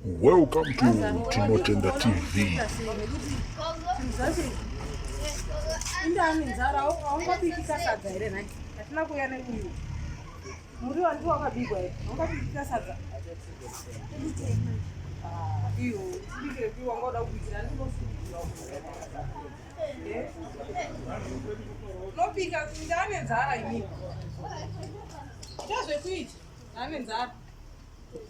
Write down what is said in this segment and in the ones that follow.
Welcome to Tinotenda TV. Indani nzara haungapikisa sadza here nhai? Hatina kuuya neuyu. Muri wanzi wakabigwa here? Haungapikisa sadza. Ah, iyo, tibikire kuiwa ngoda kubikira ndinosukuwa. Unopika ndane nzara imini. Chazvekuita? Ndane nzara.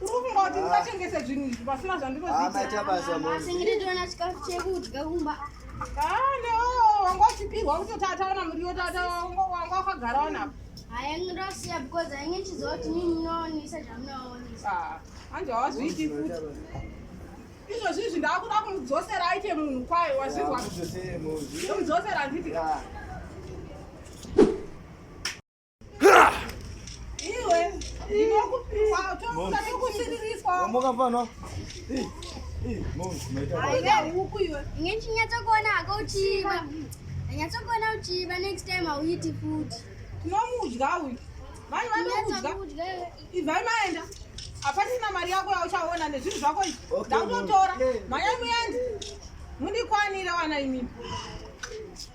Urumboti ndikatengese zvinhu izvi pasina zvandinoziiaachitoona chikafu chekudya kumba kane wanga uchipihwa kutotataona muriwo tata wanga wakagara wanapo hayange ndosiya because ainge ndichiziva kuti mii munoonisa zvamunoonisa ah, anje hawazviiti futi izvozvi izvi ndakuda kumudzosera aite munhu kwayo wazvizwa kumudzosera nditi ah. ngechinyatsokuona hako uchiva anyatsokuona uchiva next time hauiti futi tinomudya uyu vanhu vanokudya ivai maenda hapasina mari yako yauchaona nezvinhu zvako izvi ndakutotora mhanyai muende mundikwanire wana imimi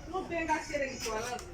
unopenga serekiwalazi